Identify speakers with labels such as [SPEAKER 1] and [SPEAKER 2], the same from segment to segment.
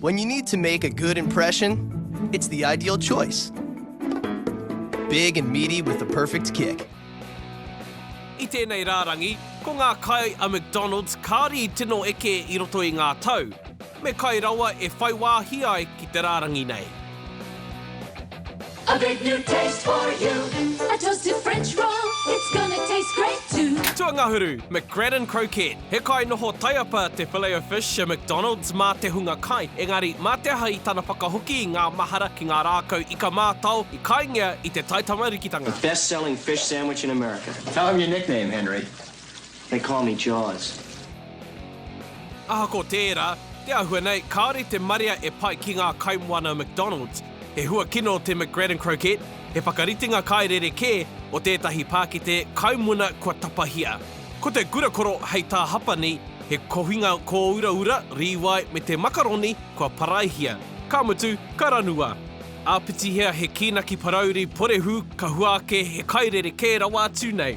[SPEAKER 1] When you need to
[SPEAKER 2] make a good impression, it's the ideal choice. Big and meaty with the perfect kick.
[SPEAKER 1] I tēnei rārangi, ko ngā kai a McDonald's kāri tino eke i roto i ngā tau. Me kai rawa e whai wāhi ai ki te rārangi nei. A
[SPEAKER 3] big new taste for you A toasted French roll It's gonna taste great too Tuangahuru,
[SPEAKER 1] McGradden Croquette He kai noho taiapa te Filet-O-Fish a McDonald's mā te hunga kai, engari mā te aha i tana whakahoki i ngā mahara ki ngā rākau ika mātao i kaingia i te taitamarikitanga. The best selling fish
[SPEAKER 4] sandwich in America. Tell him your nickname,
[SPEAKER 5] Henry. They call me
[SPEAKER 4] Jaws.
[SPEAKER 1] Ahako tērā, te āhua nei, kāore te marea e pai ki ngā kaimoana McDonald's. He hua kino te McGradden Croquette, he whakaritenga kai rerekē o tētahi pākete kaimuna kua tapahia. Ko te gurakoro hei tā Hapani, he kohinga kōuraura, rīwai me te makaroni kua paraihia. Ka mutu, ka ranua. Āpitihia he kīnaki parauri porehū ka hua ake he kai rerekē rawa atu nei.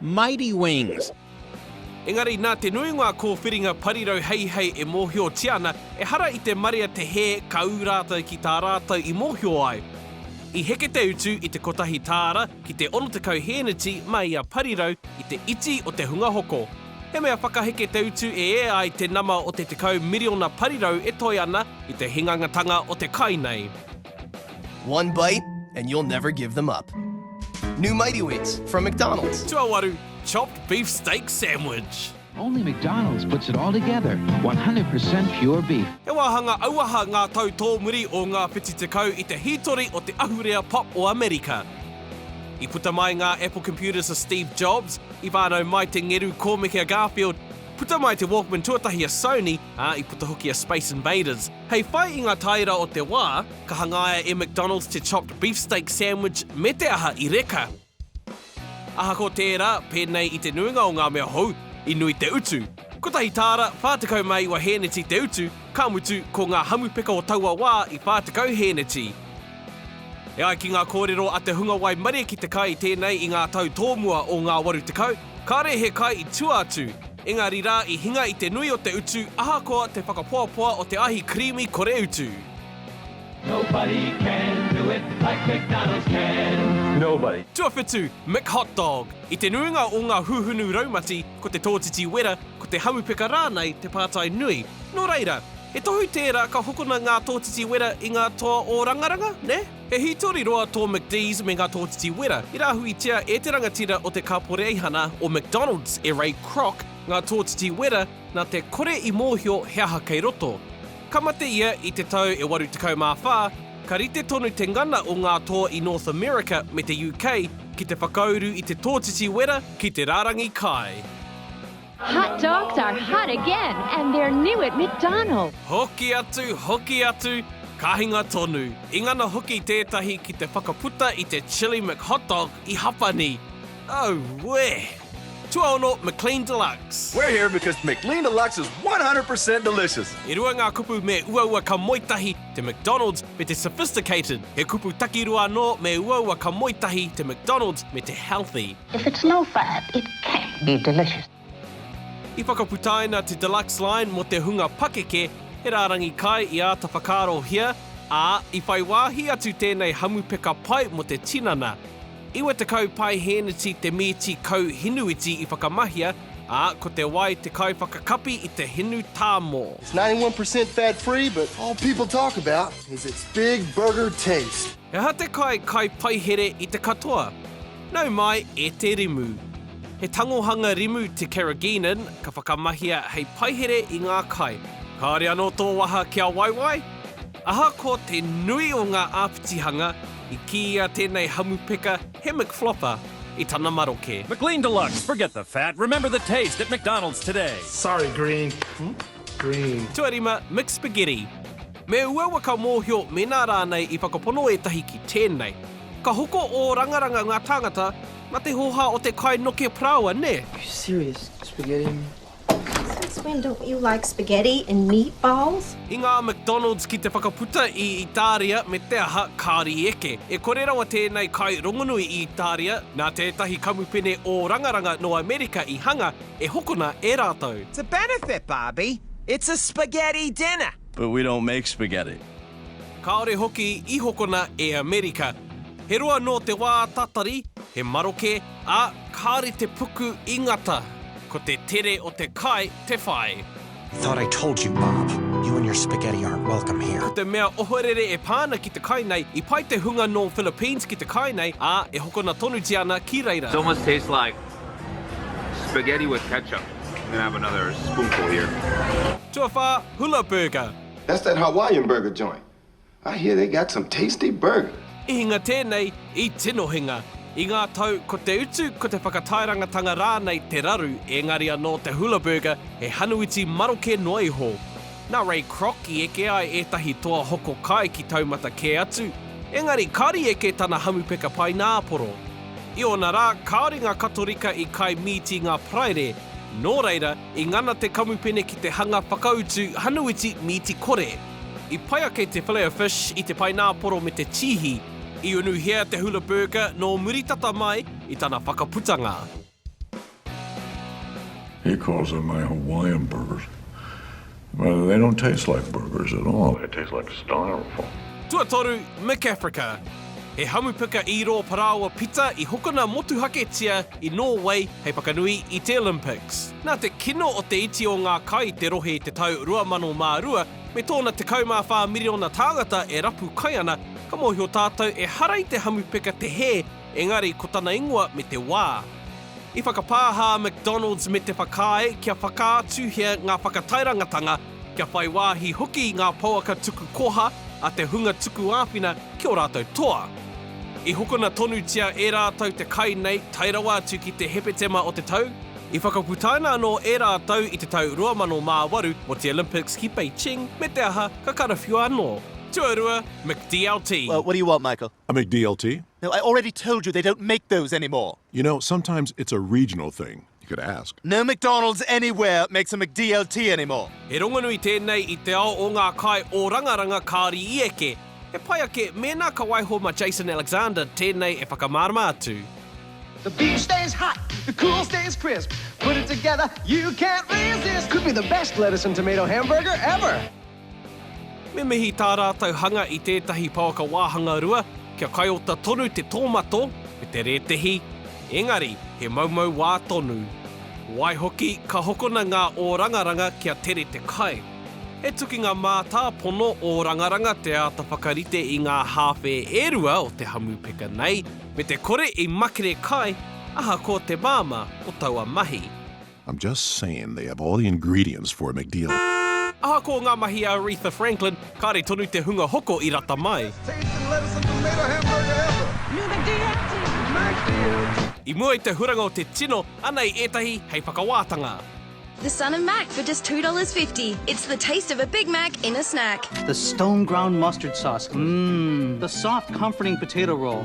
[SPEAKER 6] Mighty Wings. Engari
[SPEAKER 1] nā te nui ngā kōwhiringa parirau heihei e mōhiotia ana, ehara i te marea te hē ka ū rātou ki tā rātou i mōhio ai. I heke te utu i te kotahi tāra ki te 60 hēneti mā ia parirau i te iti o te hunga hoko. He mea whakaheke te utu e ea ai te nama o te 10 miriona parirau e toe ana i te hingangatanga o te kai nei. One
[SPEAKER 2] bite and you'll never give them up. New Mighty Wheats from McDonald's. Tuawaru chopped
[SPEAKER 1] beef steak sandwich. Only McDonald's
[SPEAKER 7] puts it all together, 100% pure beef. He wāhanga auaha
[SPEAKER 1] ngā tau tōmuri o ngā whiti tekau i te hītori o te ahurea pop o Amerika. I puta mai ngā Apple Computers a Steve Jobs, i whānau mai te ngeru kōmeke a Garfield, puta mai te Walkman tuatahi a Sony, ā, i puta hoki a Space Invaders. Hei whai i ngā tāera o te wā, ka hangaia e McDonald's te Chopped Beefsteak Sandwich me te aha i reka. Ahakoa tērā, pēnei i te nuinga o ngā mea hou, i nui te utu. Kotahi tāra, 40 mā iwa hēneti te utu, ka mutu, ko ngā hamupeka o taua wā i 40 hēneti. E ai ki ngā kōrero a te hunga waimarie ki te kai tēnei i ngā tau tōmua o ngā 80, Kāre he kai i tua atu, engari rā i hinga i te nui o te utu ahakoa te whakapoapoa o te ahi creamy kore utu.
[SPEAKER 5] Tuawhitu, Mick
[SPEAKER 1] Hot Dog, I te nuinga o ngā huhunu raumati, ko te tōtiti wera, ko te hamupeka rānei te pātai nui. Nō reira, he tohu tērā ka hokona ngā tōtiti wera i ngā toa ōrangaranga, nē? He hītori roa tō McDee's me ngā tōtiti wera. I rāhuitia e te rangatira o te Kāporeihana o McDonald's, e Ray Kroc, ngā tōtiti wera nā te kore i mōhio he aha kei roto. Ka mate ia i te tau e 84, ka rite tonu te ngana o ngā toa i North America me te UK ki te whakauru i te tōtiti wera ki te rārangi kai. Hot
[SPEAKER 8] dogs are hot again and they're new at McDonald's. Hoki atu,
[SPEAKER 1] hoki atu, ka hinga tonu. I ngana hoki tētahi ki te whakaputa i te Chilli McHotdog i Hapani. No wē! Tuaono McLean Deluxe. We're here because
[SPEAKER 9] McLean Deluxe is 100 per cent delicious! E rua ngā kupu
[SPEAKER 1] me uaua ka moe tahi te McDonald's me te sophisticated. He kupu takirua anō me uaua ka moe tahi te McDonald's me te healthy. If
[SPEAKER 10] it's no fat, it can't be delicious. I
[SPEAKER 1] whakaputaina te Deluxe Line mō te hunga pakeke, he rārangi kai i āta whakaarohia, ā, i whai wāhi atu tēnei hamupeka pai mō te tinana. 90 paehēneti te mīti kau hinuiti i whakamahia, ā, ko te wai te kaiwhakakapi i te hinu tāmō. It's 91 percent
[SPEAKER 11] fat free, but all people talk about is its big burger taste. He aha te kai
[SPEAKER 1] kai paihere i te katoa? Nau mai e te rimu. He tangohanga rimu te carrageenan ka whakamahia hei paihere i ngā kai. Kāore anō tō waha kia waiwai? Ahakoa te nui o ngā āpitihanga, i kīia tēnei hamupeka he McFlopper i tana maroke. McLean Deluxe, forget
[SPEAKER 12] the fat, remember the taste at McDonald's today. Sorry, green.
[SPEAKER 11] Green. Tuarima
[SPEAKER 1] McSpaghetti. Me uaua ka mōhio mēnā rānei i whakapono ētahi ki tēnei. Ka hoko ōrangaranga ngā tāngata na te hoha o te kai noke paraoa, nē? Are you serious?
[SPEAKER 13] Spaghetti and meatballs? Since
[SPEAKER 14] when don't you like spaghetti and meatballs? I ngā McDonald's
[SPEAKER 1] ki te whakaputa i Itāria me te aha, kāri eke. E kore rawa tēnei kai rongonui i Itāria, nā tētahi kamupene ōrangaranga nō Amerika i hanga e hokona e rātou. To benefit
[SPEAKER 15] Barbie, it's a spaghetti dinner! But we don't make
[SPEAKER 16] spaghetti. Kāore
[SPEAKER 1] hoki i hokona e Amerika. He roa nō te wā tatari, he maroke, ā, kāore te puku i ngata. Ko te tere o te kai te whai. Thought I told
[SPEAKER 17] you, Bob. You and your spaghetti aren't welcome here. Ko te mea ohorere
[SPEAKER 1] e pā ana ki te kai nei, i pai te hunga nō Philippines ki te kai nei, ā, e hokona tonutia ana ki reira. It almost tastes like
[SPEAKER 18] spaghetti with ketchup. I'm gonna have another spoonful here. Tuawhā,
[SPEAKER 1] Hula Burger. That's that Hawaiian
[SPEAKER 11] burger joint. I hear they got some tasty burger. I hinga tēnei,
[SPEAKER 1] i tino hinga. I ngā tau, ko te utu, ko te whakatairangatanga rānei te raru, ēngari anō te Hula Burger he hanuiti maroke noa iho. Nā Ray Kroc i eke ai ētahi toa hoko kai ki taumata kē atu, ēngari kāre i eke tana hamupeka paināporo. I ōna rā, kāore ngā Katorika i kai mīti ngā Paraire, nō reira, I ngana te kamupene ki te hanga whakautu hanuiti mīti kore. I pai ake te filet o fish i te paināporo me te tīhi. I unuhia te hula burger nō muri tata mai i tana whakaputanga.
[SPEAKER 19] He calls them my Hawaiian burgers. They don't taste like burgers at all, they taste like styrofoam. Tuatoru,
[SPEAKER 1] Mick Africa He hamupuka īrō parāoa pita i hokona motuhaketia i Nōwei hei whakanui i te Olympics. Nā te kino o te iti o ngā kai i te rohe i te tau 2002, me tōna 14 miriona tāngata e rapu kai ana, ka mōhio tātou ehara i te hamupuka te hē Engari ko tana ingoa me te wā. I whakapāha a McDonald's me te whakaae kia whakaatuhia ngā whakatairangatanga, kia whai wāhi hoki i ngā pouaka tuku koha a te hunga tuku āwhina ki ō rātou toa. I hokona tonutia e rātou te kai nei tae rawa atu ki te Hepetema o te tau, i whakaputaina anō e rātou i te tau 2008 mō te Olympics ki Beijing, me te aha, ka karawhiua anō. Tuarua, McDLT. What do you want, Michael?
[SPEAKER 20] I make DLT.
[SPEAKER 21] No, I already told
[SPEAKER 20] you they don't make those anymore. You know, sometimes
[SPEAKER 21] it's a regional thing. You could ask. No McDonald's
[SPEAKER 20] anywhere makes a McDLT anymore. He rongonui tēnei
[SPEAKER 1] i te ao o ngā kai o Rangaranga kāri i eke. He pai ake mēnā ka waiho ma Jason Alexander tēnei e whakamārama atu. The beach
[SPEAKER 22] stays hot, the cool stays crisp Put it together, you can't resist Could be the best lettuce and tomato hamburger ever!
[SPEAKER 1] Me mihi tā rātou hanga i tētahi pouaka wāhanga rua, kia kaiota tonu te tōmato me te rētehi, engari he moumou wā tonu. Waihoki, ka hokona ngā ōrangaranga kia tere te kai. He tukinga mātāpono ōrangaranga te āta whakarite i ngā hāwhe e rua o te hamupeka nei, me te kore i makere kai ahakoa te māmā o taua mahi. I'm just
[SPEAKER 21] saying they have all the ingredients for a McDeal. Ahakoa ngā
[SPEAKER 1] mahi a Aretha Franklin, kāre tonu te hunga hoko i rata mai. I mua i te huranga o te tino, anei ētahi hei whakawātanga. The son of
[SPEAKER 23] Mac for just two dollars fifty. It's the taste of a Big Mac in a snack. The stone ground
[SPEAKER 24] mustard sauce, mmm. The soft comforting potato roll.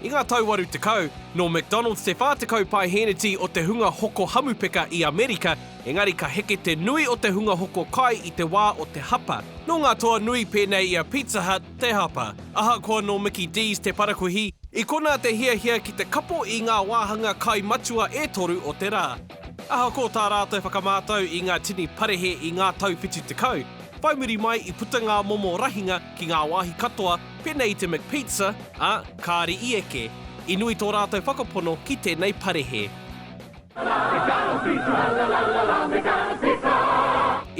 [SPEAKER 25] I ngā
[SPEAKER 1] tau 80, nō McDonalds te 40 pae hēneti o te hunga hoko hamupeka i Amerika, engari ka heke te nui o te hunga hoko kai i te wā o te hapa. Nō ngā toa nui pēnei i a Pizza Hut te hapa. Ahakoa nō Mickey D's te parakuihi, i konā te hiahia ki te kapo i ngā wāhanga kai matua e toru o te rā. Ahakoa tā rātou whakamātau i ngā tini parehe i ngā tau 70, whai muri mai i puta ngā momo rahinga ki ngā wāhi katoa, Pēnei i te McPizza, ā, kāre i eke. I nui tō rātou whakapono ki tēnei parehe.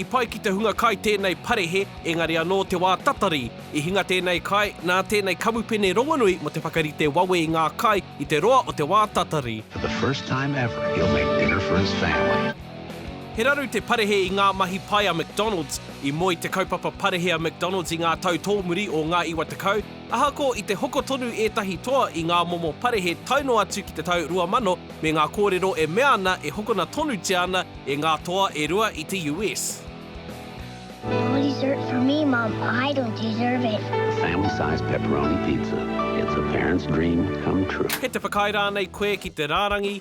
[SPEAKER 1] I pai ki te hunga kai tēnei parehe, engari anō te wā tatari. I hinga tēnei kai, nā tēnei kamupene rongonui mō te whakarite wawe i ngā kai i te roa o te wā tatari.
[SPEAKER 7] He raru
[SPEAKER 1] te parehe i ngā mahi pai a McDonald's. I moe te kaupapa parehe a McDonald's i ngā tau tōmuri o ngā iwa tekau, ahakoa i te hoko tonu ētahi toa i ngā momo parehe tae noa atu ki te tau 2000 me ngā kōrero e mea ana e hokona tonutia ana e ngā toa e rua i te US.
[SPEAKER 2] No dessert for
[SPEAKER 7] me, Mom. I don't deserve it. Family size pepperoni pizza. It's a parent's dream come true. Kei te whakaae rānei
[SPEAKER 1] koe ki te rārangi?